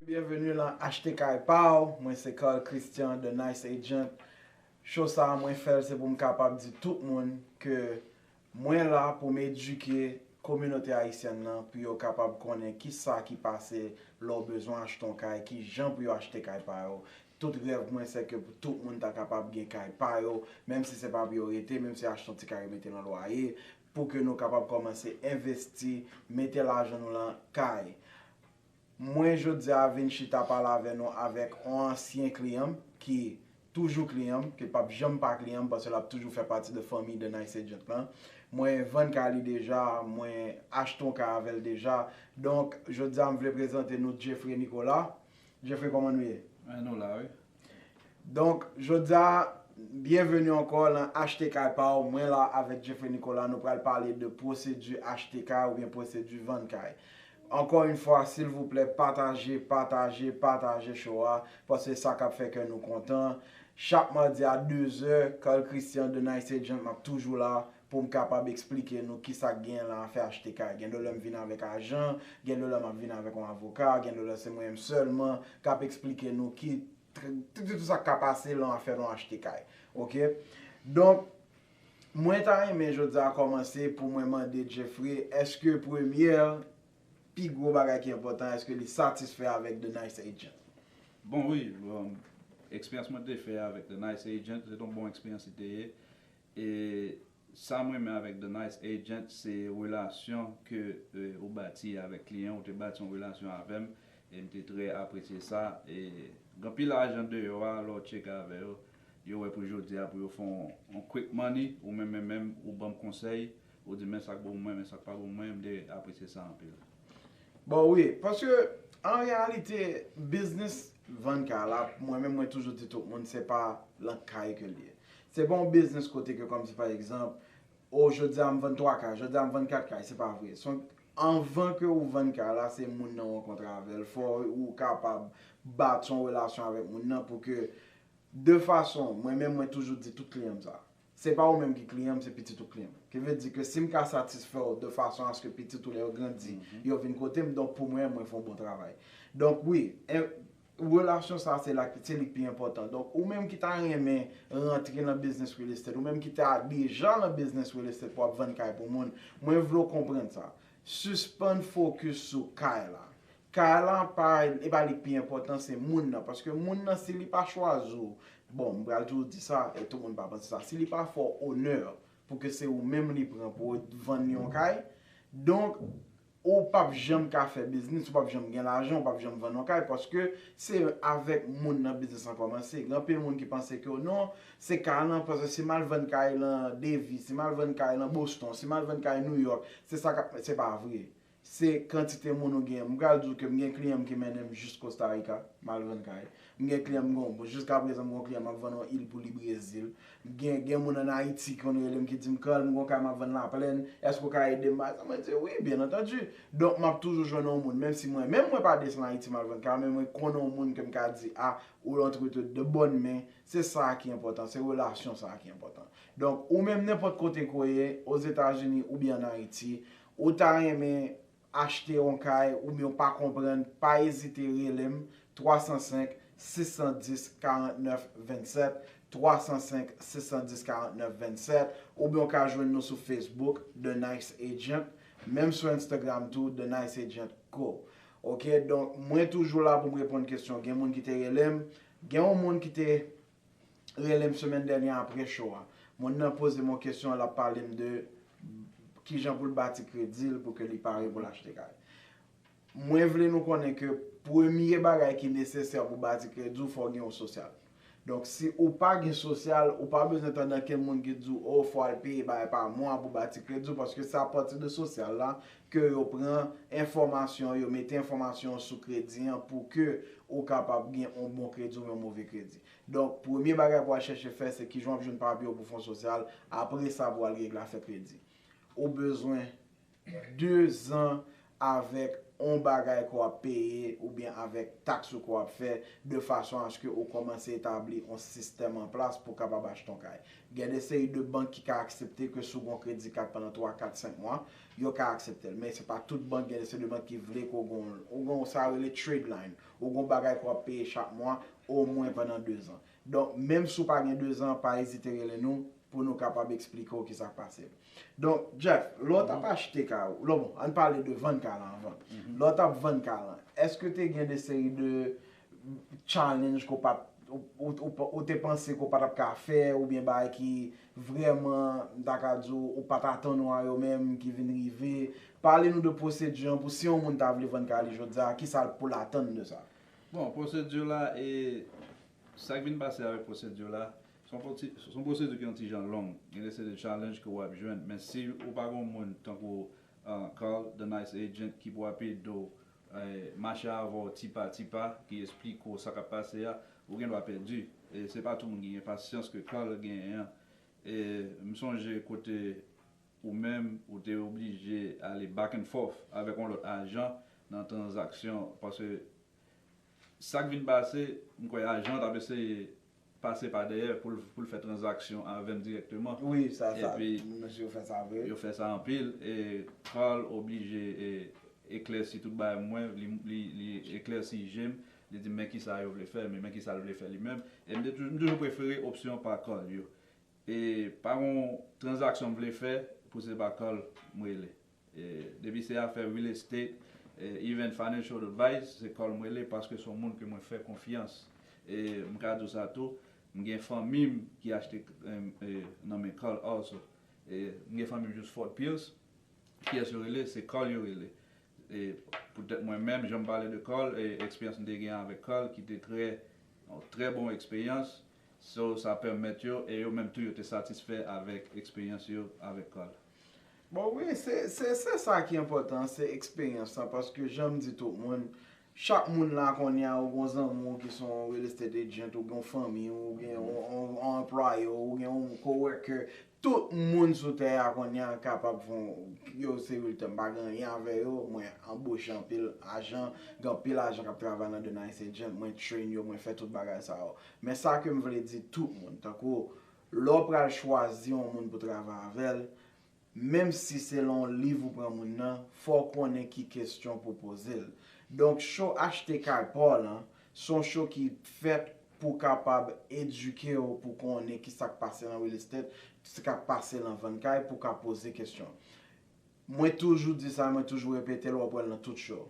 Bienvenue lan achte kay paw, mwen se Carl Christian the nice agent, show sa mwen fèl se poum kapab di tout moun ke Mwen la pou m edike kominote ayisyèn nan pou yo kapab konnen ki sa ki pase lè w bezwen achte yon kay, ki jan pou yo achte kay pa yo. Tout rèv mwen se ke pou tout moun ta kapab gen kay pa yo, menm si se pa pou yo rete, menm si achte yon ti kay yo mete nan lwaye, pou ke nou kapab kòmanse envesti, mete lajan nou lan kay. Mwen jodi a vin chita pale avè nou avèk on ansyen kliyan m ki toujou kliyan m, ki pap janm pa kliyan m paske lap toujou fè pati de fanmi The Nice Agent lan. Mwen vann kay li deja, mwen achte on kay avèl deja. Donk, jodi a m vle prezante nou Jeffrey Nicolas. Jeffrey kòman nou ye? Nou la wi. Donk jodia byenveni ankò lan achte kay paw mwen la avèk Jeffrey Nicolas nou pral pale de pwosedi achte kay oubyen pwosedi vann kay ankò yn fwa silvouplè pataje pataje pataje cho a paske sa kap fè kè nou kontan chak madi a dezè Carl Christian the nice agent map toujou la Pou m kapab eksplike nou ki sa k genyen lan afè achte kay. Gen de lè m vin avèk ajan, gen de lè m ap vin avèk yon avoka, gen de lè se mwen menm sèlman k ap eksplike nou ki tout sa k ka pase lan afè lan achte kay. Ok. Donk, mwen ta renmen jodi a kòmanse pou mwen mande Jeffrey èske premyè pi gwo bagay ki enpòtan èske li satisfè avèk The Nice Agent? Bon wi, eksperyans mwen te fè avèk The Nice Agent se te yon bon eksperyans li te ye. E sam renmen avèk the nice agent se relasyon ke ou bati avèk kliyen ou te bati yon relasyon avèm em te trè apresye sa e gen anpil ajan deyò a lè ou tcheke avè yo yo wè pou jodia pou yo fè yon quick money ou menm men menm ou banm konsèy ou dim men sak bon pou mwen men sak pa bon pou mwen em te apresye sa anpil. Bon wi paske an reyalite biznis vann kay la mwen menm mwen toujou di tout moun se pa lan kay ke li ye Se pa yon biznis kote ke kòmsi pa egzanp, o jodi a m vann 3 kay, jodi a m vann 4 kay, se pa vre. Se yon, anvan ke ou vann kay la, se moun nan ou rankontre avè l, fò ou kapab bati yon relasyon avèk moun nan pou ke, de fason, mwen menm mwen toujou di tout kliyan m sa, se pa ou menm ki kliyan m, se pitit ou ki kliyan m. Ki vle di ke si m ka satisfè w de fason aske pitit ou lè yo grandi, yo vin kote m, donk pou mwen, mwen fè yon bon travay. Donk wi, Relasyon sa se la se li k pi enpòtan. Donk ou menm ki ta renmen rantre nan biznis real estate, ou menm ki ta deja nan biznis real estate pou ap vann kay pou moun, mwen vle w konprann sa. Sispann fokis sou kay la. Kay la pa, e pa li k pi enpòtan, se moun nan. Paske moun nan si li pa chwazi w, bon m pral toujou di sa e tout moun pa panse sa, si li pa fè w onè pou ke se ou menm li pran pou w vann li yon kay, donk Ou pap janm ka fè biznis, ou pap janm gen lajan, ou pap janm vann yon kay paske se avèk moun nan biznis lan kòmanse. Gen anpil moun ki panse ke non, se kay lan paske si mal vann kay lan Devi, si mal vann kay lan Boston, si mal vann kay New York, se sa kap se pa vre. Se kantite moun ou gen. M pral di w ke m gen kliyan m ki mennen m jis Costa Rica, mal vann kay. M gen kliyan m gon bon jiska prezan m gon kliyan map vann yon il pou li brezil m gen gen moun an ayiti ki konn rele m ki di m Carl m gon kay map vann laplèn èske ou ka ede m bay sa mwen di wi byen antandi donk map toujou jwenn yon moun menm si mwen menm mwen pa desann ayiti mal vann kay an men mwen konn yon moun ke m ka di a ou antre tout de bòn men se sa ki enpòtan se relasyon sa ki enpòtan donk ou menm nenpòt kote ke w ye ozetazini oubyen an ayiti ou ta renmen achte yon kay oubyen w pa konprann pa ezite rele m 305 610 49 27 305 610 49 27 oubyen w ka jwenn nou sou Facebook The Nice Agent menm sou Instagram tou The Nice Agent Co ok donk mwen toujou la pou m reponn kesyon gen moun ki te rele m gen yon moun ki te relem semèn dènyè apre show a. Moun nan pozem yon kesyon lap palem de kijan poul bati kredil pou ke li pare poul achte kay. Mwen vle nou konnen ke premye bagay ki nesesè pou bati krediw fòw gen yon sosyal. Donk si ou pa gen sosyal ou pa bezwen tande ankenn moun ki t diw oh fò al peye bagay pa mwa pou bati krediw paske se apati de sosyal la ke yo pran enfòmasyon, yo mete enfòmasyon w sou kredi an pou ke ou kapab gen yon bon kredi oubyen yon move kredi. Donk, premye bagay pou al chèche fè se kijan w ap jwenn papye w pou Fon Sosyal, apre sa pou al règle afè kredi. Ou bezwen 2 zan avèk yon bagay ke w ap peye oubyen avèk taks ou ke w ap fè de fason aske ou kòmanse etabli yon sistèm an plas pou kapab achte yon kay. Gen de seri de bank ki ka aksepte ke si w gen yon kredi kat pandan 3, 4, 5 mwa, yo ka akseptel men se pa tout bank gen se de bank ki vle ke w gon ou gon sa yo rele trade line ou gon bagay ke w ap peye chak mwa omwen pandan 2 zan donk menm si w pa gen 2 zan pa ezite rele nou pou nou kapab eksplike w kisa k pase donk Jeff lè w t ap achte kay ou lè bon ann pale de vann kay lan avan lè w t ap vann kay lan eske te gen de seri de challenge ke w pat ou te panse ke w pa t ap ka fè oubyen bagay ki Vrèman, m ta ka di w, ou pa t atann ou a yo menm ki vin rive. Pale nou de pwosedi an pou si yon moun ta vle vann kay li jodi a, ki sa l pou l atann de sa? Bon, pwosedi la, e sa k vin pase avèk pwosedi la, s on pwoti, s on pwosedi ki yon ti jan long. Gen de seri de challenge ke w ap jwenn. Men si ou pa gen yon moun tankou Carl, the nice agent, ki pou ap ede w Mache avè w ti pa ti pa, ki esplike w sa k ap pase a, ou gen dwa pèdi. E se pa tout moun ki gen pasyans ke Carl genyen an. E m sonje kote ou menm ou te oblije ale back and forth avèk yon lòt ajan nan tranzaksyon paske sa k vin pase m kwè ajan an t ap eseye pase pa dèyè pou l fè tranzaksyon avèm dirèkteman epi yo fè sa anpil e Carl oblije eklèsi tout bagay pou mwen li eklèsi je m li di m men kisa yo vle fè men kisa l vle fè li menm e m toujou prefere opsyon pa Carl yo e pa gon tranzaksyon m vle fè pou se pa Carl m rele. Depi se afè real estate, even financial advice, se kòl m rele paske se yon moun ke mwen fè konfyans. E m ka di w sa tou, m gen fanmi m ki achte nan men kòl also. M gen fanmi m jous Fort Pierce, kiyès yo rele, se kòl yo rele. E poutèt mwen menm, jan m pale de kòl, eksperyans m te gen avèk kòl ki te trè, yon trè bon eksperyans, so sa pèmèt yo, e yo menm tou yo te satisfè avèk eksperyans yo avèk kòl. Bon wi, se sa ki enpòtan, se eksperyans la, paske jan m di tout moun, chak moun la kounye a ou gon zanmi w ki se yon real estate agent, ou gon fanmi w, ou gen yon anplwaye w, ou gen yon co-worker, tout moun sou tè a kounye a kapab fon, yo se realtor, m pa gen anyen avè yo, mwen anboche anpil ajan, gen anpil ajan k ap travay nan The Nice Agent, mwen train yo, mwen fè tout bagay sa yo. Men sa ke m vle di tout moun, tankou, Lè w pral chwazi yon moun pou travay avè l, menm si se lan yon liv ou pran moun nan, fò w konnen ki kesyon pou w poze l. Donk show Achte Kay Pa w lan, se yon show ki fèt pou kapab edike w pou konnen ki sa k pase lan real estate, sa k pase lan vann kay pou w ka poze kesyon. Mwen toujou di sa mwen toujou repetel wap wèl nan tout show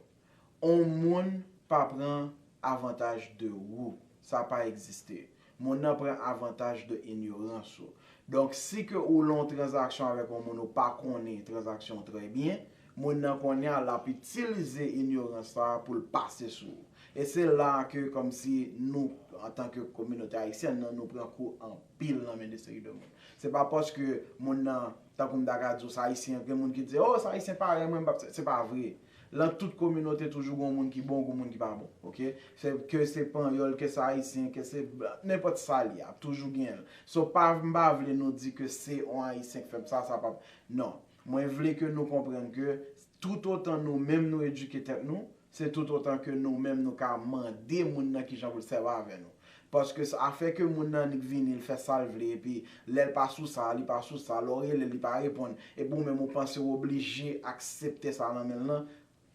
on moun pa pran avantaj de ou sa pa egziste moun nan pran avantaj de inyorans ou donk si ke ou lan on tranzaksyon avèk on moun ou pa konnen tranzaksyon trè byen moun nan konnya lap itilize inyorans sa poul pase sou ou e se la ke kòmsi nou antan ke kominote ayisyèn nan nou pran kou anpil nan men de seri de moun se pa paske moun nan Tankou m ta ka di w sa Ayisyen, gen moun ki di oh sa Ayisyen parèy mwen m pap, se pa vre. Lan tout kominote toujou gon moun ki bon gon moun ki pa bon ok. Se ke se panyòl ke se Ayisyen ke se nenpòt sa l ye ap toujou gen l. So pa m pa vle nou di ke se on Ayisyen k fè m sa sa pap non. Mwen vle ke nou konprann ke tout otan nou menm nou edike tèt nou Se tout otan ke nou menm nou ka mande moun nan kijan pou l sèvi avè nou. Paske sa a fè ke moun nan annik vini, l fè sa l vle, epi lè l pa sou sa a, li pa sou sa a, lè ou rele l, li pa reponn, epi ou menm ou panse ou oblije aksepte sa nan men l lan,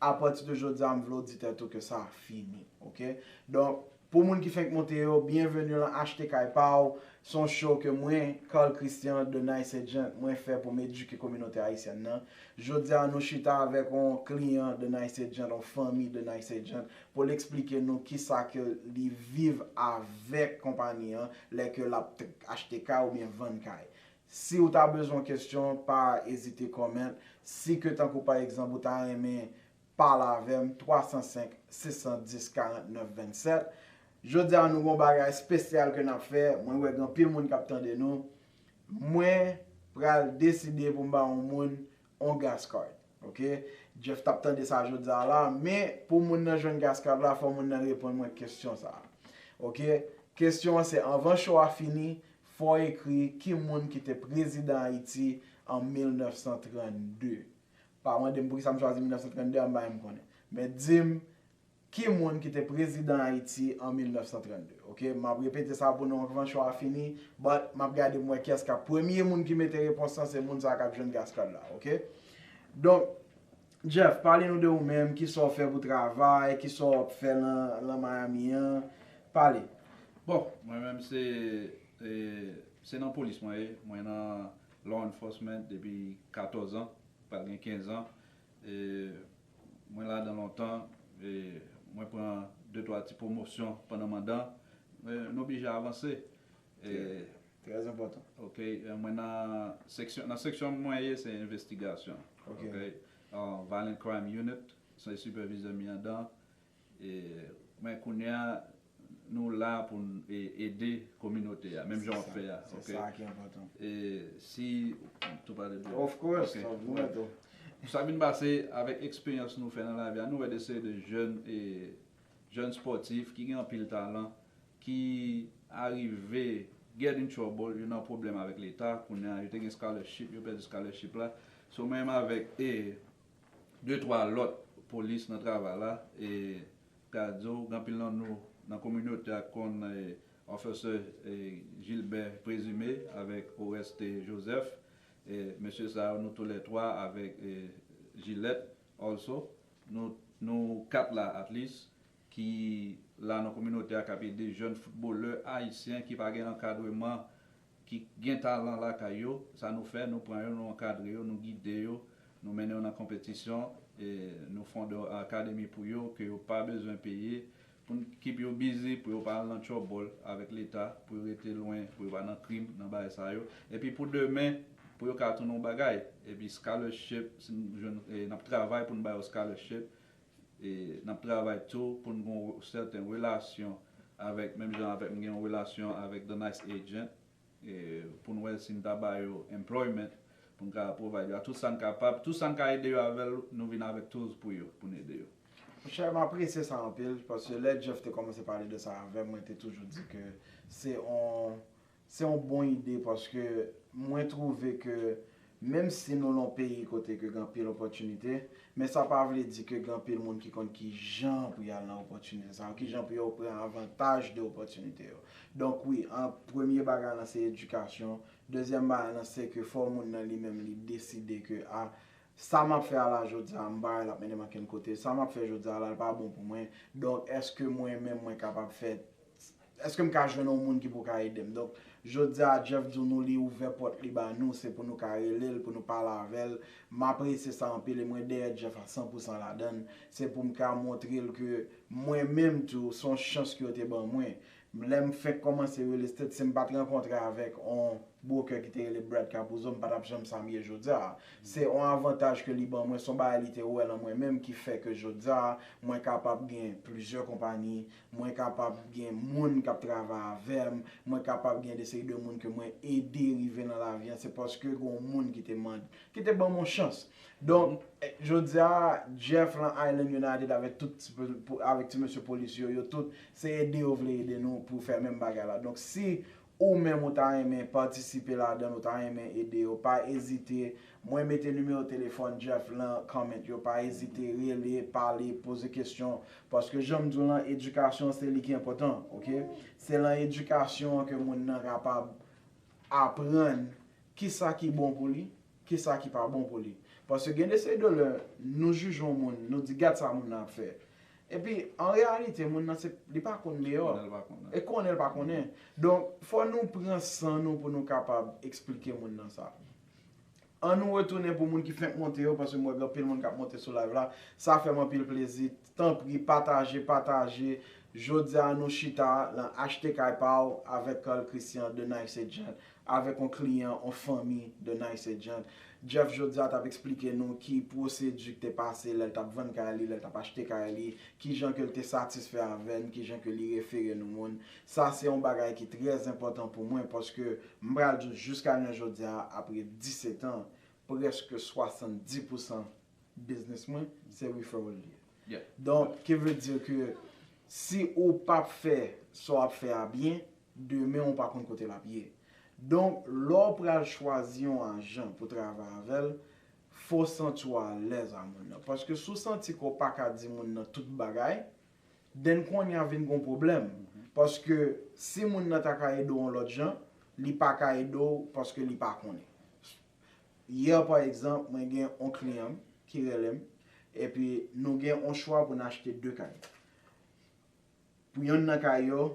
apati de jodi a m vle ou di tèt ou ke sa a fini. Ok? Donk. Pou moun ki fenk moute yo, byenveni lan Achte Kay Pa w! Se yon show ke mwen, Carl Christian, The Nice Agent, mwen fè pou m edike kominote ayisyèn nan. Jodi a nou chita avèk yon kliyan The Nice Agent, yon fanmi The Nice Agent, pou l eksplike nou kisa ke li viv avèk konpani an lè ke l ap achte kay oubyen vann kay. Si w ta bezwen yon kesyon, pa ezite comment. Si ke tankou pa egzanp ou ta renmen pale avè m 305 610 49 27 Jodi a nou gon bagay spesyal ke n ap fè Mwen wè gen anpil moun k ap tande nou Mwen pral deside pou m ba yon moun yon gas card ok Jeff t ap tande sa jodi a la Men pou moun nan jwenn gas card la fò moun nan reponn mwen kesyon sa ok Kesyon an se anvan show a fini fò w ekri ki moun ki te prezidan Ayiti an 1932 Pa mande m poukisa m chwazi 1932 a, m pa menm konnen. Men di m ki moun ki te prezidan Ayiti an 1932. Ok, m ap repete sa pou nou anvan show a fini, but m ap gade pou m wè kiyès k ap premye moun ki mete repons lan, se moun sa a k ap jwenn gas card la. Ok, donk, Jeff, pale nou de ou menm, ki sa w fè pou travay, ki sa w ap fè lan Miami an, pale. Bon, mwen menm se nan polis mwen ye, mwen nan Law enforcement depi 14 ans pral gen 15 ans mwen ladan lontan mwen pran de twa ti pwomosyon pandan mandan nou oblije avanse Très enpòtan. Ok mwen nan seksyon nan seksyon mwen ye se envestigasyon ok violent crime unit se sipèvizè m ye andan Men kounye a nou la pou n ede kominote a menm jan wap fè a ok e si tou pale byen of course of course pou sa vin pase avèk eksperyans nou fè nan lavi a nou wè de seri de jèn e jèn spòtif ki gen anpil talan ki arive get in trouble yo nan pwoblèm avèk leta kounye a yo te gen scholarship yo pèdi scholarship la so menm avèk e. 2 twa lòt polis nan travay la e ka di w anpil nan nou nan kominote a konn Officer Gilbert Présumé avèk Oreste Joseph e mesye sa yo nou tou lè twa avèk jilèt also nou 4 la at least ki la nan kominote a k ap ede jèn foutbolè ayisyen ki pa gen ankadreman, ki gen talan lakay yo, sa nou fè, nou pran yo, nou ankadre yo, nou gide yo, nou mennen yo nan konpetisyon, nou fonde akademi pou yo ke yo pa bezwen peye, pou n keep yo busy, pou yo pa al nan tchòbòl avèk leta, pou yo rete lwen, pou yo pa nan krim, nan bagay sa yo, epi pou demen, pou yo ka tounen yon bagay, epi scholarship, si n jwenn, n ap travay pou n ba yo scholarship, N ap travay tou pou n gen yon sèten relasyon avèk, menm jan avèk m gen yon relasyon avèk The Nice Agent, pou n wè si n ta ba yo employment, pou n ka provide yo a tout sa n kapab. Tout sa n ka ede yo avè l, nou vin avèk tools pou yo, pou n ede yo. Monchè, m apresye sa anpil, paske lè Jeff te kòmanse pale de sa avè m, mwen te toujou di ke se yon Se yon bon ide paske mwen twouve ke menm si nou lan yon peyi kote ke gen anpil opòtinite, men sa pa vle di ke gen anpil moun ki konn ki jan pou yal nan opòtinite sa yo, ki jan pou yo pran avantaj de opòtinite yo. Donk wi, an premye bagay lan se edikasyon, dezyèm bagay lan se ke fò moun nan li menm li deside ke a, sa map fè a la jodi a, m pa wè lap mennen m ankenn kote, sa map fè jodi a la l pa bon pou mwen, donk èske mwen menm mwen kapab fè Eske m ka jwenn yon moun ki pou ka ede m? Donk, jodi a, Jeff di nou li ouvè pòt li ba nou, se pou nou ka rele l, pou nou pale avè l. M apresye sa anpil e mwen dèyè Jeff a san pou san ladan l. Se pou m ka montre l ke mwen menm tou, se yon chans ke yo te ban mwen. Lè m fenk kòmanse real estate, si m pa t rankontre avèk yon broker ki te rele Brad Capuzzo, m pa t ap janm sa m ye jodi a. Se yon avantaj ke li ban mwen, se yon bagay li te wè lan mwen menm ki fè ke jodi a, mwen kapab gen plizyè konpayi, mwen kapab gen moun kap travay avèm, mwen kapab gen de seri de moun ke mwen ede rive nan lavi an, se paske gen yon moun ki te mande, ki te banm yon chans. Donk, jodi a, Jeff lan Island United avèk tout ti, avèk ti mesye polis yo, yo tout, se ede yo vle ede nou pou fè menm bagay la. Donk, si ou menm ou ta renmen patisipe ladann ou ta renmen ede yo pa ezite mwen mete nimewo telefòn Jeff lan comment yo pa ezite rele pale poze kesyon paske janm diw lan edikasyon se li ki enpòtan ok se lan edikasyon an ke moun nan kapab aprann kisa ki bon pou li. Kisa ki pa bon pou li? Paske gen de seri de lè nou jije yon moun, nou di gad sa moun nan ap fè. Epi an reyalite moun nan se, li pa konn deyò. Konnen l pa konnen. E konnen l pa konnen. Donk fò nou pran san nou pou nou kapab esplike moun nan sa. An nou retounen pou moun ki fenk monte yo, paske m wè gen anpil moun k ap monte sou live la. Sa fè m anpil plezi Tanpri pataje pataje Jodi a nou chita lan achte kay pa w avèk Carl Christian de Nice Agent avèk on kliyan on fanmi de Nice Agent Jeff jodi a t ap eksplike nou ki pwosedi k te pase lè l t ap vann kay li lè l t ap achte kay li kijan ke l te satisfè avè n kijan ke li refere nou moun sa se on bagay ki trè enpòtan pou mwen paske m pral di w jiska jounen jodi a apre 17 an prèske 70 pousan business mwen se referral li ye donk ki vle di ke si ou pa fè sa wap fè a byen demen ou pa konn kote lap ye donk lè w pral chwazi yon ajan pou travay avèl fò w santi w alèz a moun nan paske si w santi ke w paka di moun nan tout bagay den konnya vin gon pwoblèm paske si moun nan ta ka ede w yon lòt jan li paka ede w paske li pa konnen. Hier pa egzanp mwen gen on kliyan m ki rele m epi nou gen on chwa pou n achte 2 kay. Pou yonn nan kay yo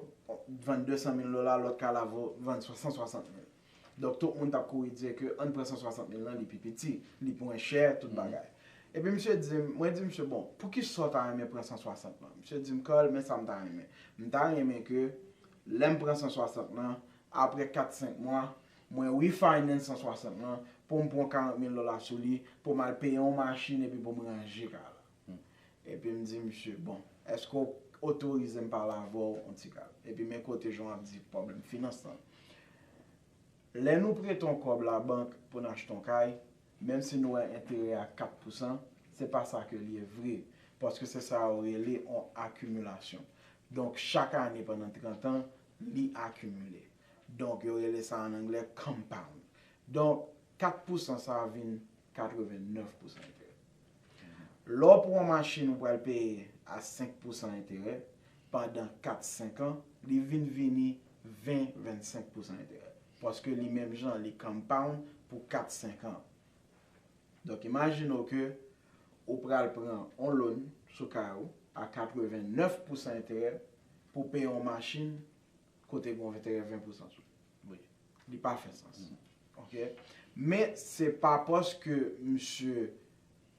vann 200 mil dola lòt kay la vo vann 160 mil. Donk tout moun t ap kouri di ke ann pran 160 mil lan li pi piti, li mwen chè tout bagay. Epi misye di m, mwen di misye bon poukisa w ta renmen pran 160 lan? Misye di m Carl men sa m ta renmen, m ta renmen ke lè m pran 160 lan aprè 4, 5 mwa Mwen refinance 160 lan poum pran 40 mil dola sou li poum al peye yon machin epi poum ranje kay la. Epim di misye bon eske ou otorizem pale avèw yon ti kal. Epi men kote jan ap di pwoblèm finans lan. Lè nou prete yon kòb la bank poun achte yon kay, menm si nou wè enterè a 4 pousan, se pa sa ke li ye vre. Paske se sa yo rele yon akimilasyon. Donk chak ane pandan 30 an li akimile. Donk yo rele sa an anglè compound. Donk 4 pousan sa a vin 89 pousan enterè. Lè w pran yon machin ou pral peye a 5 pousan enterè pandan 4, 5 an, li vin vini 20, 25 pousan enterè. Paske li menm jan li compound pou 4, 5 an. Donk imajine w ke ou pral pran yon loan sou kay ou a 89 pousan enterè pou w peye yon machin Kote gon enterè 20 pousan sou li. Li pa fè sans. Ok. Men se pa paske misye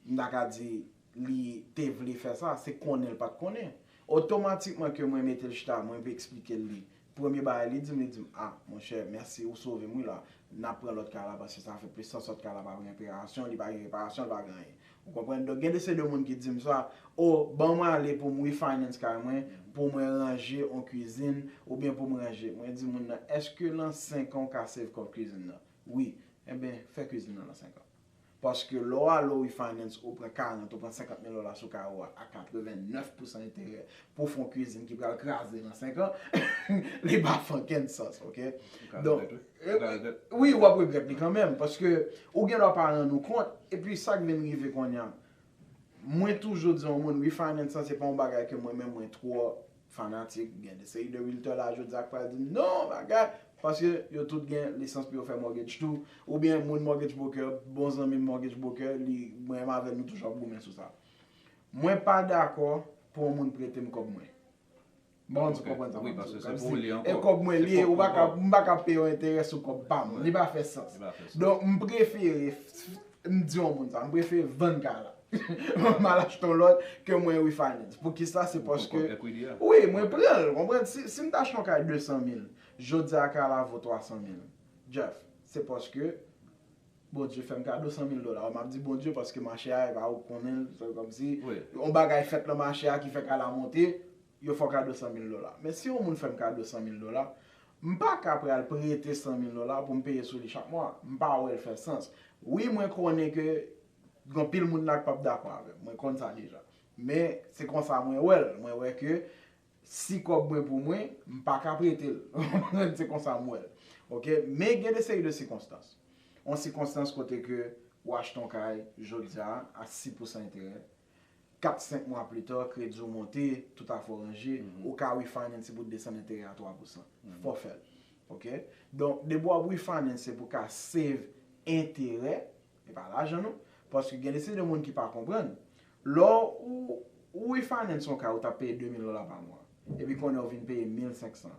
m ta ka di li te vle fè sa. Se konnen l pat konnen. Otomatikman ke mwen mete l chita mwen esplike l li. Premye bagay li di m li di m a monchè mèsi ou sove m wi la. N ap pran lòt kay la paske sa fè plis sans lòt kay la pa gen reparasyon li pa gen reparasyon li pa gen anyen. Ou konprann? Donk gen de seri de moun ki di m sa, Oh, ban mwen ale pou m refinance kay mwen, pou mwen ranje yon kwizin, oubyen pou m ranje. Mwen di moun nan, Èske lan 5 an ou ka save kòb kwizin nan? Wi. Enben, fè kwizin nan lan 5 an. Paske lè w ale w refinance, ou pran 40, ou pran 50 mil dola sou kay ou a, a 89 pousan enterè. pou fon cuisine ki pral kraze nan 5 ans li pa fè okenn sans ok wi wap regrèt li kanmenm paske ou gen dwa pa rann ou kont epi sak vin rive konnya mwen toujou di yon moun refinance lan se pa yon bagay ke mwen menm mwen twò fanatik gen de seri de realtor la jodia ki pral dim non bagay paske yo tout gen lisans pou yo fè mortgage tou oubyen moun mortgage broker bon zanmim mortgage broker li menm avèl nou toujou ap goumen sou sa Mwen pa dakò pou yon moun pretem kòb mwen. M pa konn si w konprann sa m ap di w la. E kòb mwen li e ou pa m pa ka peye yon enterè sou kòb pa m. Li pa fè sans. Donk m prefere m di yon moun sa. M prefere vann kay la. M al achte yon lòt ke mwen refinance. Poukisa? Se paske wi mwen pran l. Konprann? Si m ta achte yon kay 200 mil, jodi a kay la vo 300 mil. Jeff, se paske Bondye fèm kado 100 mil dola, map di Bondye paske mache a epa ou konnen l, se kòmsi yon bagay fèt nan mache a ki fè kay la monte, yo fè w kado 100 mil dola. Men si yon moun fèm kado 100 mil dola, m pa ka pral prete 100 mil dola pou m peye sou li chak mwa, m pa wè l fè sans. Wi mwen konnen ke gen anpil moun la k pap dakò avè m, mwen konn sa deja. Men se konsa mwen wè l, mwen wè ke Si kòb mwen pou mwen, m pa ka prete l. Ou konprann? Se konsa m wè l. Ok? Men gen de seri de sikonstans. On sikonstans kote ke ou achte on kay jodi a, a 6 pousan enterè. Kat, senk mwa plita, kredi ou monte, tout afè ou ranje, ou ka refinance pou desann enterè a 3 pousan. Fò fè l. Ok? Donk, depi w ap refinance se pou ka save enterè, e pa lajan nou. Paske gen de seri de moun ki pa konprann. Lè ou ou refinance yon kay ou tap peye 2000 dola pa mwa, epi kounye a ou vin peye 1500.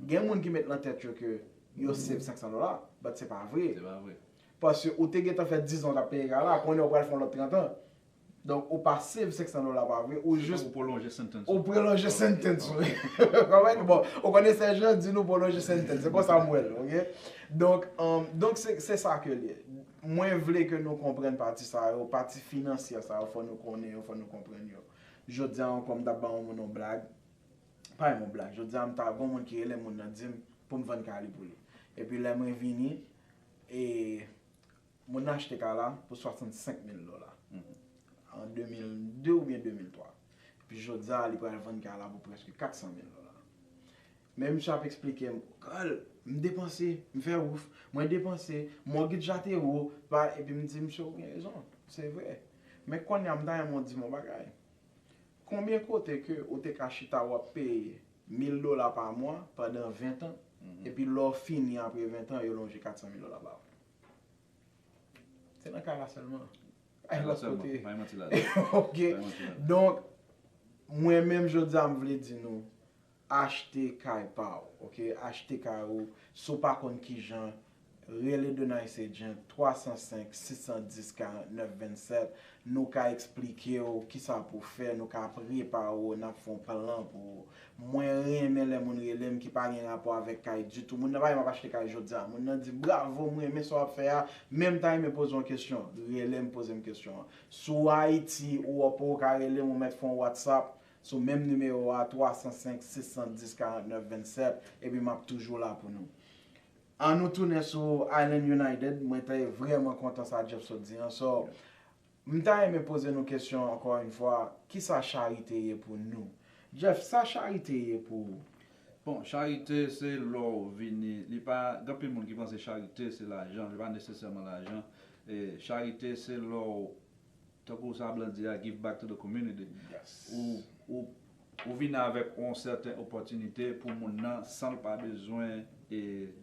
Gen moun ki met nan tèt yo ke yo save 500 dola, but se pa vre. Se pa vre. Paske ou te gentan fè 10 an ou tap peye kay la, kounye a ou pral fè yon lòt 30 an. Donk ou pa save 500 dola pa vre, ou jis. Se tankou pwolonje sentence ou. Ou pwolonje sentence ou. Ou konprann? Bon, ou konnen sè Jean di nou pwolonje sentence, se konsa m wè l, ok. Donk, donk se sa ke l ye. Mwen vle ke nou konprann pati sa yo, pati finansyè sa yo fò nou konnen yo, fò nou konprann yo. Jodi a ankò m ta ba yon moun yon blag, pa yon blag, jodi a m ta gen yon moun ki rele m moun nan di m pou m vann kay li pou li. Epi lè mwen vini e moun nan achte kay la pou 65 mil dola an 2002 oubyen 2003. Epi jodi a li pral vann kay la pou prèske 400 mil dola. Men misye ap esplike m Carl, m depanse, m fè wouf, mwen depanse, mògitj la te wo, pa, epi m di misye ou gen rezon, se vre. Men kounye a m ta renmen ou di m yon bagay. Konbyen kote ke ou te ka chita wap peye 1000 dola pa mwa pandan 20 tan, epi lè w fini apre 20 tan yo lonje 400 mil dola ba ou? Se nan kay la sèlman. Pa gen lòt kote. Pa gen manti ladan. Ok. Donk, mwen menm jodi a m vle di nou, Achte kay pa w ok achte kay ou si w pa konn kijan rele The Nice Agent 305 610 49 27 nou ka eksplike w kisa pou w fè nou ka prepare w nap fon plan pou ou mwen renmen lè moun rele m ki pa gen rapò avèk kay ditou moun nan pa di map achte kay jodia moun nan di bravo m renmen sa wap fè a men m ta renmen poze yon kesyon rele m poze m kesyon an si w Ayiti ou Òp ou ka rele m ou mèt fon Whatsapp sou menm nimewo a 305 610 49 27 epi map toujou la pou nou an nou tounen sou Island United mwen te vrèman kontan sa Jeff sot di an so m ta renmen poze nou kesyon ankò yn fwa kisa charite ye pou nou Jeff sa charite ye pou ou? Bon charite se lè w vini li pa gen anpil moun ki panse charite se lajan li pa nesesèman lajan charite se lè w Tankou sa blan di a give back to the community. Ou vini avèk yon sèten opòtinite pou moun nan san l pa bezwen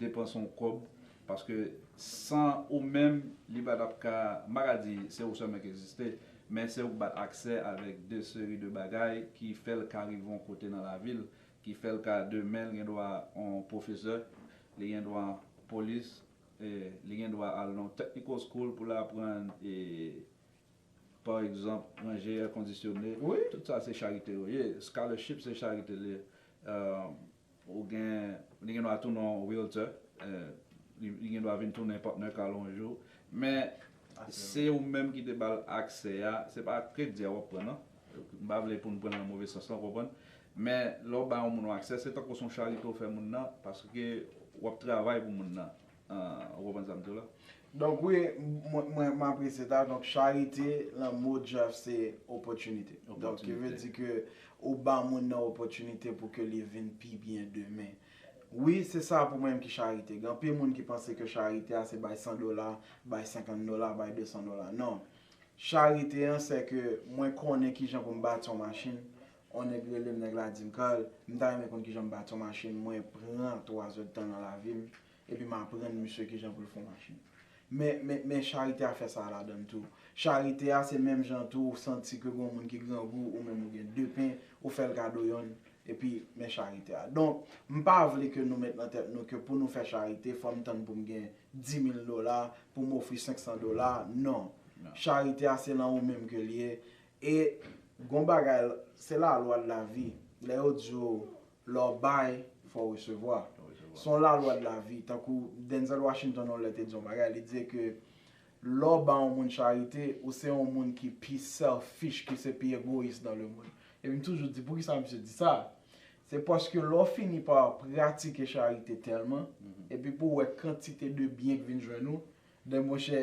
depanse yon kòb paske san ou menm li pa tap ka, m pa ka di se ou sèlman ki egziste men se ou ki bat aksè avèk de seri de bagay ki fè l ka rive yon kote nan lavi l ki fè l ka demen l gen dwa yon pwofesè, li gen dwa polis. Li gen dwa al nan yon technical school pou l aprann pa egzanp ranje èkondisyone. Tout sa se charite yo ye. Scholarship se charite l ye. Ou gen, li gen dwa tounen yon realtor. Li gen dwa vin tounen partner kal yon jou. Men se ou menm ki te ba l aksè a. Se pa kredi a w ap pran non. M pa vle pou n pran l nan move sans lan, w konprann. Men, lè w ba yon moun yon aksè, se tankou se yon charite w fè moun nan, paske w ap travay pou moun nan. Ou konprann sa m di w la? Donk wi, mwen apresye sa. Donk charite, nan mo Jeff, se opòtinite. Donk ki vle di ke ou ba moun nan opòtinite pou ke li vin pi byen demen. Wi, se sa pou mwen ki charite. Gen anpil moun ki panse ke charite a se bay 100 dola, bay 50 dola, bay 200 dola. Non. Charite an sè ke mwen konnen kijan pou m bati yon machin, yon nèg rele m, nèg la di m, Carl, m ta renmen konn kijan m bati yon machin, mwen pran twazèdtan nan lavi m, epi m aprann misye kijan pou l fè yon machin. Men, men, men charite a fè sa a ladan l tou. Charite a se menm jan tou ou santi ke gen yon moun ki grangou, ou menm ou gen de pen, ou fè l kado yonn, epi men charite a. Donk, m pa vle ke nou met nan tèt nou ke pou nou fè charite fò m tann pou m gen dimil dola pou m ofri senksan dola non charite a se lan ou menm ke l ye e gon bagay se la lwa de la vi lè yo di yo lè w bay fò w resevwa se yon la lwa de la vi tankou Denzel Washington yon lè te di yon bagay li di ke lè w ba yon moun charite ou se yon moun ki pi selfish ki se pi egoyis dan le mond epi m toujou di poukisa misye di sa Se paske lè w fini pa pratike charite tèlman, epi pou w wè kantite de byen k vin jwenn ou, den monchè,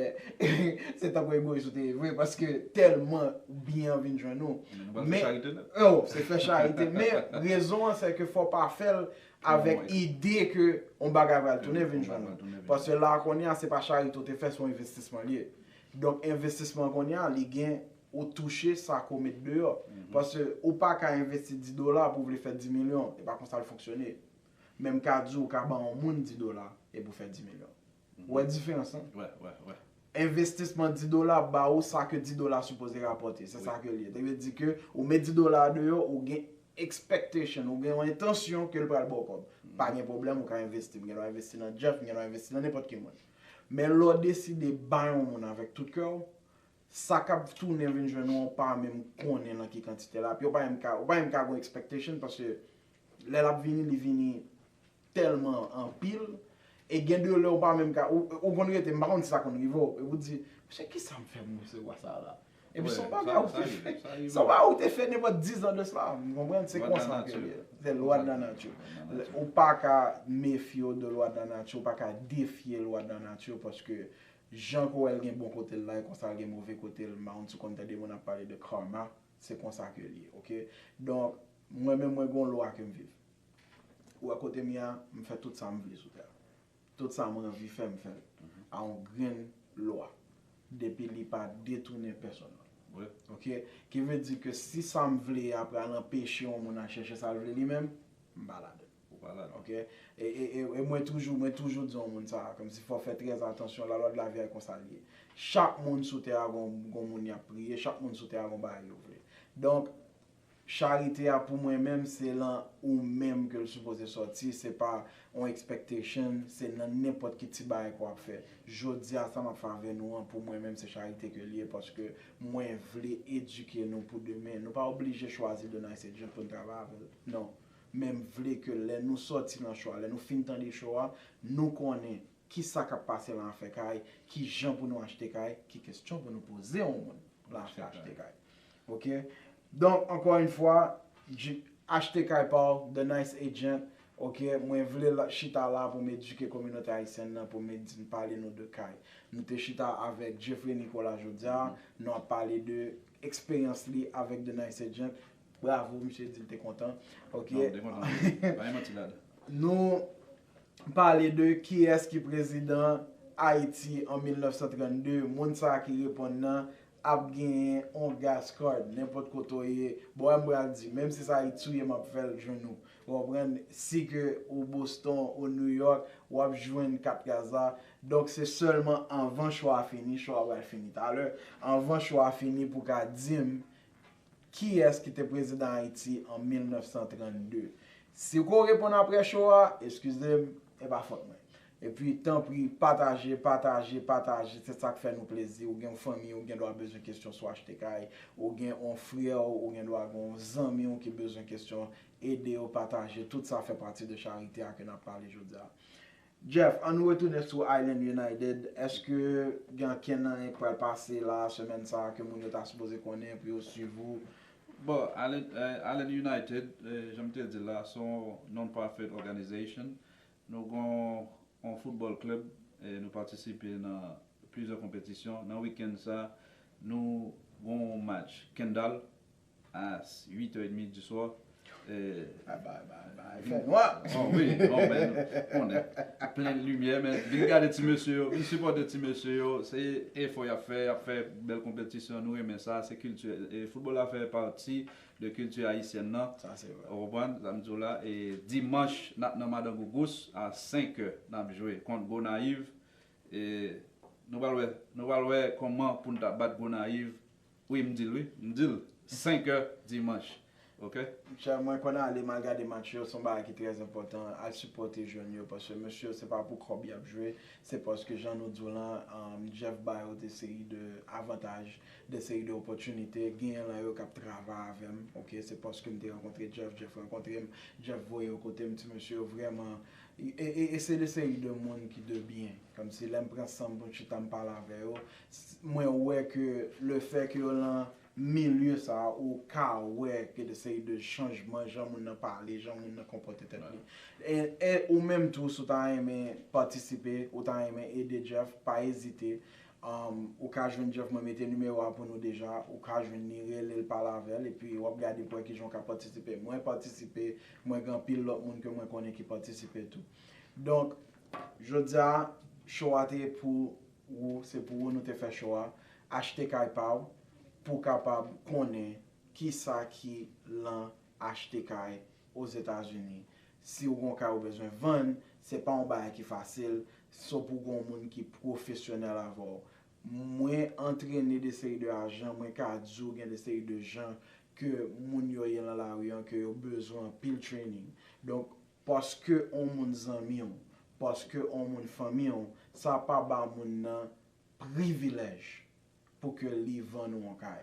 se tankou egoyis ou te ye vre, paske tèlman byen an vin jwenn ou. Men nou pral fè charite nèt. O, se fè charite, men rezon an se ke fò w pa fè l avèk ide ke yon bagay pral tounen vin jwenn ou. Paske la a kounye a, se pa charite ou te fè, se yon envestisman li ye. Donk envestisman kounye a, li gen ou touche sa ke w met deyò. Paske ou pa ka envesti 10 dola pou w vle fè 10 milyon. E pa konsa l fonksyone. Men m ka di w ka ban yon moun 10 dola epi w fè 10 milyon. Ou wè diferans lan? Wè, wè, wè. Envestisman 10 dola ap ba ou sa ke 10 dola sipoze rapòte. Se sa ke l ye. Sa vle di ke ou met 10 dola a deyò, ou gen expectation, ou gen yon entansyon ke l pral ba w kòb. Pa gen pwoblèm, ou ka envesti. M gen dwa envesti nan Jeff, m gen dwa envesti nan nenpòt ki moun. Men lè w deside bay yon moun avèk tout kè w, Sa kap tounen vin jwenn ou ou pa menm konnen nan ki kantite lap ye ou pa menm ka ou pa menm ka gon expectation paske lè lap vini li vini tèlman anpil e gen de lè ou pa menm ka ou konn rete m pa konn si sa konn rive w epi w di mesye kisam fè m resevwa sa la epi son bagay ou te fè son bagay ou te fè nenpòt 10 ans de cela m konprann se konsa ke l ye se lwa de la nati ou pa ka mefye w de lwa de la nati ou pa ka defye lwa de la nati paske Jan ke w wè l gen bon kote l la e konsa l gen move kote l moun sou konn tande moun ap pale de karma se konsa ke l ye ok donk mwen menm mwen gen yon lwa ke m viv ou wè kote m ye a m fè tout sa m vle sou tè a tout sa mwen anvi fè m fè l a yon grenn lwa depi li pa detounen pèsonn ok ki vle di ke si sa m vle a pral anpeche yon moun al chèche sa l vle li menm m pa ladan l. Ok e mwen toujou mwen toujou di yon moun sa kòmsi fò fè trè atansyon la lwa de la via konsa liye chak moun sou tè a gon gon moun yap priye chak moun sou tè a gon bagay yo vle donk charite a pou mwen menm se lan ou menm ke l sipoze sòti se pa yon expectation se nan nenpòt ki ti bagay ke wap fè jodia sa map fè avè nou an pou mwen menm se charite ke liye paske mwen vle edike nou pou demen nou pa oblije chwazi de nice agent poun travay avèl non Men m vle ke lè nou sòti nan cho a, lè nou fin tande cho a, nou konnen ki sa k ap pase lan afè kay, ki jan pou nou achte kay, ki kestyon pou nou poze yon moun lan afè achte kay. Ok. Donk, ankò yon fwa, Achte Kay pa w, The Nice Agent, ok, mwen vle chita la pou m edike kominote ayisyèn nan, pou m di, pale nou de kay. Nou te chita avèk Jeffrey Nicolas jodi a, nou ap pale de eksperyans li avèk The Nice Agent, Bravo misye di li te kontan. Ok. Non, li te kontan wi. Pa gen manti ladan. Nou pale de kiyès ki prezidan Ayiti an 1932, moun sa a ki reponn nan ap genyen on gas card nenpòt kote w ye. Bon, m pral di, menm si sa touye m ap fè l jwenn ou. Ou konprann? Si ke ou Boston, ou New York, w ap jwenn kat gaz la. Donk se sèlman anvan cho a fini, cho a pral fini talè, anvan cho a fini pou w ka di m Kiyès ki te prezidan Ayiti an 1932? Si ou ko reponn apre show a, eskize m, e pa fòt mwen. E pi, tanpri, pataje, pataje, pataje, se sa k fè nou plezi. Ou gen yon fanmi ou gen dwa bezwen kesyon sou achte kay, ou gen yon frè ou, ou gen dwa gen yon zanmi ou ki bezwen kesyon, ede yo, pataje, tout sa fè pati de charite a ke n ap pale jodi a. Jeff, an nou retounen sou Island United, eske gen ankenn anyen k pral pase la semèn sa a ke moun yo ta sipoze konnen pou yo swiv ou? Bon, Island United, jan m te di l la, se yon non-profit organization. Nou gen yon football club, nou patisipe nan plizyè konpetisyon. Nan weekend sa a, nou gen yon match Kendall as 8 heures et demie du soir li fè nwa oh oui oh ben nou konnen plen limyè men vin gade ti mesye yo vin sipòte ti mesye yo se efò yap fè yap fè bèl konpetisyon nou renmen sa se kilti foutbòl la fè pati de kilti ayisyèn nan ou konprann sam diw la e dimanch nap nan madan gougous a 5 heures nap jwe kont gonayiv e nou pral wè nou pral wè kòman poun ta bat gonayiv Wi m dil wi m dil 5 heure dimanche ok. Chè mwen konn ale mal gade match yo son bagay ki trè enpòtan al sipòte jèn yo paske mesye yo se pa pou kòb yap jwe se paske jan nou diw lan Jeff ba yo de seri de avantaj de seri de opòtinite genyen lan yo kap travay avèm ok se paskem te rankontre Jeff Jeff rankontrem Jeff voye yo kotem ti mesye yo vrèman e se de seri de moun ki de byen kòmsi lèm pran sanm poum chita m pale avè yo Mwen wè ke le fè ke yo lan milye sa a ou ka wè gen de seri de chanjman jan moun nan pale, jan moun nan konpòte tèt li. E ou menm tou si w ta renmen patisipe, ou ta renmen ede Jeff, pa ezite. Ou ka jwenn Jeff, mwen mete nimewo a pou nou deja, ou ka jwenn li, rele l, pale avè l, epi w ap gade pou wè kijan w ka patisipe. Mwen patisipe, mwen gen anpil lòt moun ke mwen konnen ki patisipe tou. Donk, jodi a, show a te pou Ou se pou ou nou te fè chwa achte kay pa w pou kapab konnen kisa ki lan achte kay ozetazini si ou gon kay ou bezwen vann se pa yon bagay ki fasil so pou gon moun ki pwofesyonèl avè w mwen antrene de seri de ajan mwen ka di w gen de seri de jan ke moun yo ye lan lari an ke yo bezwen anpil trening donk Paske on moun zanmi w, paske on moun fanmi w, sa pa ba moun nan privilèj pou ke li vann ou on kay.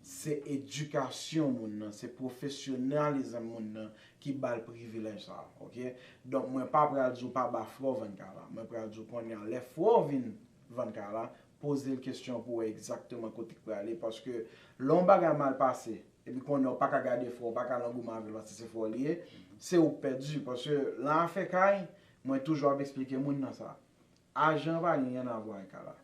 Se edikasyon moun nan, se pwofesyonalizm moun nan ki ba l privilèj sa a. Ok? Donk mwen pa pral di w pa ba frè w vann kay la. Mwen pral di w kounye a lè frè w vin vann kay la, poze l kesyon pou w wè egzakteman kote k prale paske lè on bagay mal pase, Epi konnen ou paka gade fò, ou paka lan goumen avèl paske se fò li ye, se ou k pèdi paske lan afè kay, mwen toujou ap esplike moun nan sa. Ajan pa gen ryen avwa ak ala.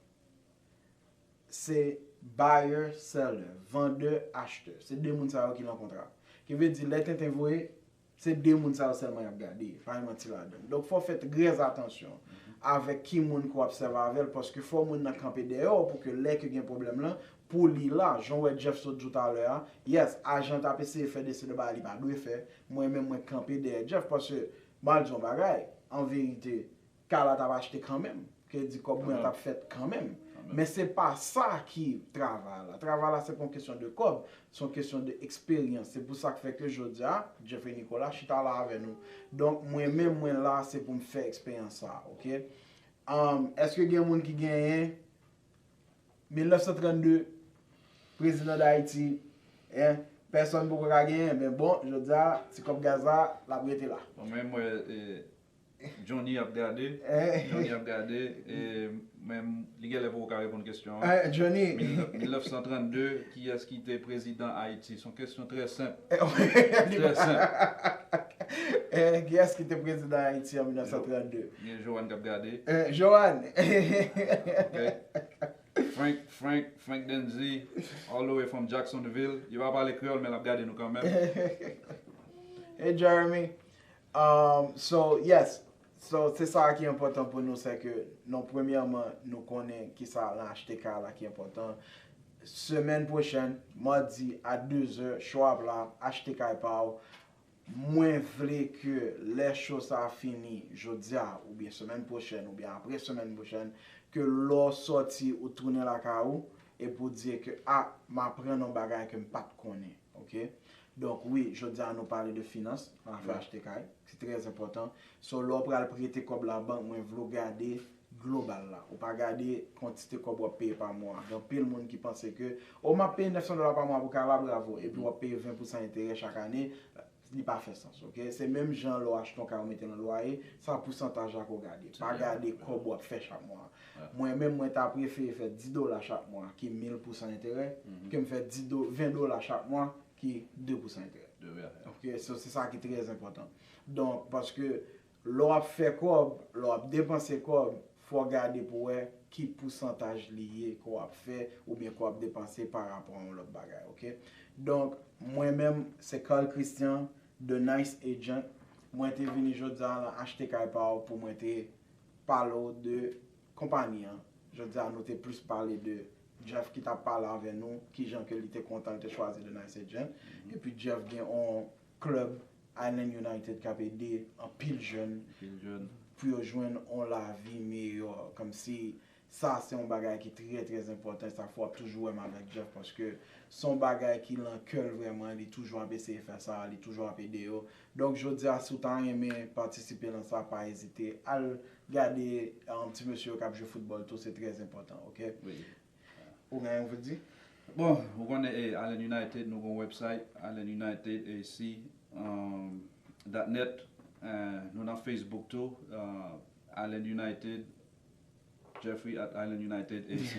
Se buyer seller, vendeur acheteur. Se de moun sa yo ki lan kontra. Ki vle di lè tenten voye, Se 2 moun sa yo sèlman y ap gade, pa gen manti ladan l. Donk fò w fè trèzatansyon avèk ki moun ke w ap sèvi avè l paske fò moun nan kanpe dèyè w pou ke lè ke gen pwoblèm lan, pou li la. Jan w wè Jeff sot di w talè a, yes, ajan t ap eseye fè dese de bagay li pa dwe fè, mwen menm mwen kanpe dèyè Jeff paske m ap di w yon bagay, anverite, Kay la tap achte kanmenm. Kredi kòb mwen an tap fèt kanmenm. Men se pa sa ki travay la. Travay la se pa yon kesyon de kòb. Se yon kesyon de eksperyans. Se pou sa k fè ke jodi a, Jeffrey Nicolas chita la avè nou. Donk mwen menm mwen la se pou m fè eksperyans sa a. Ok. Eske gen moun ki genyen 1932 prezidan Dayiti? Hein? Pèsòn poko ka genyen. Men bon, jodi a, ti kòb gaz la, l ap rete la. Mwen menm mwen Johnny ap gade, Johnny ap gade, men li genlè poko ka reponn kesyon an. 1932, kiyès ki te prezidan Ayiti? Son kesyon trè senp. Trè senp. Kiyès ki te prezidan Ayiti an 1932? Gen Johanne kap gade. Johanne! Frank, Frank, Frank Denzy, all the way from Jacksonville. Li pa pale kreyòl men lap gade nou kanmenm. Hey Jeremy! Um so yes so se sa ki enpòtan pou nou se ke nou premyèman nou konnen kisa lan achte kay la ki enpòtan semèn pwochèn madi a dezè cho ap la achte kay pa ou mwen vle ke lè cho sa fini jodia oubyen semèn pwochèn oubyen apre semèn pwochèn ke lè ou sòti ou tounen lakay ou epi ou di ke ah ma aprann yon bagay ke m pat konnen. Ok donk wi jodi a nou pale de finans nan afè achte kay ki trè enpòtan so lè w pral prete kòb la bank mwen vle w gade global la ou pa gade kantite kòb wap peye pa mwa gen anpil moun ki panse ke oh map peye 900 dola pa mwa pou kay la bravo epi wap peye 20 pousan enterè chak ane Li pa fè sans ok. Se menm jan lè w achte yon kay ou mete nan lwaye, sa pousantaj la ke w gade. Pa gade kòb wap fè chak mwa. Mwen menm mwen ta prefere fè 10 dola chak mwa ki 1000 pousan enterè ke m fè 20 dola chak mwa ki 2 pousan enterè. Ok, so se sa ki trè enpòtan. Donk paske Lè w ap fè kòb, lè w ap depanse kòb, fò w gade pou w wè ki pousantaj li ye ke w ap fè oubyen ke w ap depanse pa rapò a yon lòt bagay ok. Donk mwen menm se Carl Christian, The Nice Agent, mwen te vini jodi a lan Achte Kay Pa W pou mwen te pale w de konpani an. Jodi a nou te plis pale de Jeff ki t ap pale avè nou kijan ke li te kontan l te chwazi The Nice Agent. Epi Jeff gen yon Club Island United kap ede anpil jèn pou yo jwenn yon lavi meyò kòmsi sa se yon bagay ki trè trè enpòtan e sak fè wap toujou wèm avèk Jeff paske se yon bagay ki lan kèl vrèman li toujou ap eseye fè sa li toujou ap ede yo donk jodia si w ta renmen patisipe lan sa pa ezite al gade ti mesye yo kap jwe foutbòl tou se trè enpòtan ok. Ou gen yon vle di? Bon, ou konnen e Allen United nou gon website allenunitedAC.net nou nan Facebook tou Allen United Jeffrey at Allen United AC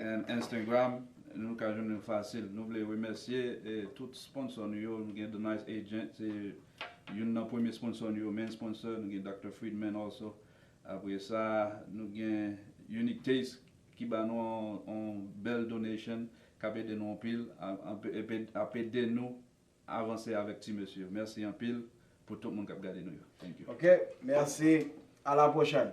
and Instagram nou ka jwenn nou fasil. Nou vle remèsye tout sponsò nou yo, nou gen The Nice Agent se youn nan premye sponsò nou yo, main sponsor, nou gen Dr. Friedman also Apre sa nou gen Unique Taste ki ba nou yon bèl donation kap ede nou anpil ap ede nou avanse avèk ti mesye. Mèsi anpil pou tout moun kap gade nou yo. Thank you. Ok merci a la prochaine.